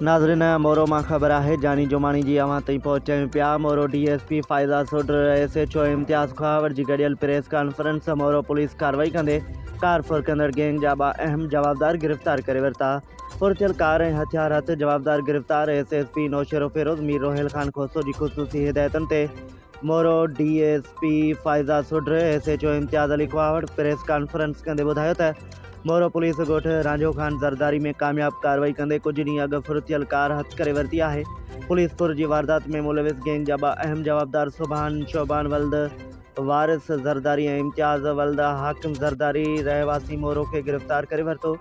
ناظرين مورو مان خبر آهي جاني جوماڻي جي اوهان تائين پهچايون پيا Moro D S P Faiza Sodhar S H O Imtiaz Khahawar جي گڏيل پريس ڪانفرنس مورو پوليس ڪاروائي ڪندي ڪار ڦرڪندڙ گينگ جا ٻه اهم جوابدار گرفتار ڪري ورتا ڦرٿيل ڪار ۽ هٿيار هٿ جوابدار گرفتار S S P Naushahro Feroze Mir Roheel Khan Khoso جي خصوصي هدايتن تي Moro D S P Faiza Sodhar S H O Imtiaz Ali Khahawar press conference ڪندي ٻڌايو ته مورو پوليس ڳوٺ رانجهو خان زرداري ۾ ڪامياب ڪارروائي ڪندي ڪجهه ڏينهن اڳ ڦرتيل ڪار هٿ ڪري ورتي آهي پوليس پور جي واردات ۾ ملوث گينگ جا ٻه اهم جوابدار سبحان شعبان ولد وارث زرداري ۽ امتياز ولد حاڪم زرداري رهواسي مورو کي گرفتار ڪري ورتو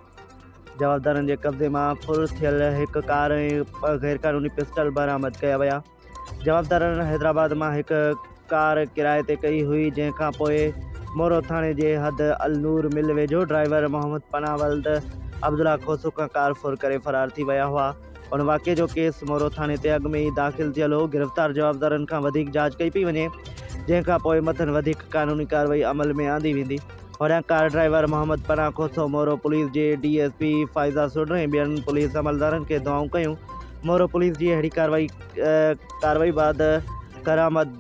جوابدارن جي قبضي مان ڦر ٿيل هڪ ڪار ۽ ٻه غيرقانوني پسٽل برآمد ڪيا ويا جوابدارن حيدرآباد مان هڪ ڪار ڪرائي تي ڪئي هئي جنهن کان پوء مورو ٿاڻي جي حد النور مل ويجهو ڊرائيور محمد پناهه ولد عبدالله کوسو کان ڪار ڦر ڪري فرار ٿي ويا هئا ان واقعي جو ڪيس مورو ٿاڻي تي اڳ ۾ ئي داخل ٿيل هو گرفتار جوابدارن کان وڌيڪ جاچ ڪئي پئي وڃي جنهن کان پوء مٿن وڌيڪ قانوني ڪارروائي عمل ۾ آندي ويندي. هن car driver Muhammad Panah Khoso, Moro police جي D S P Faiza Sodhar ۽ ٻين پوليس عملدارن کي دعائون ڪيون. مورو پوليس جي اهڙي ڪارروائي بعد ڪرآمد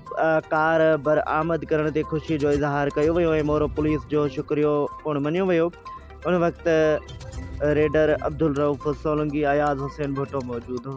ڪار برآمد ڪرڻ تي خوشي جو اظهار ڪيو ويو ۽ مورو پوليس جو شڪريو پڻ مڃيو ويو. ان وقت ريڊر عبدالرئوف سولنگي، اياز حسين ڀٽو موجود هو.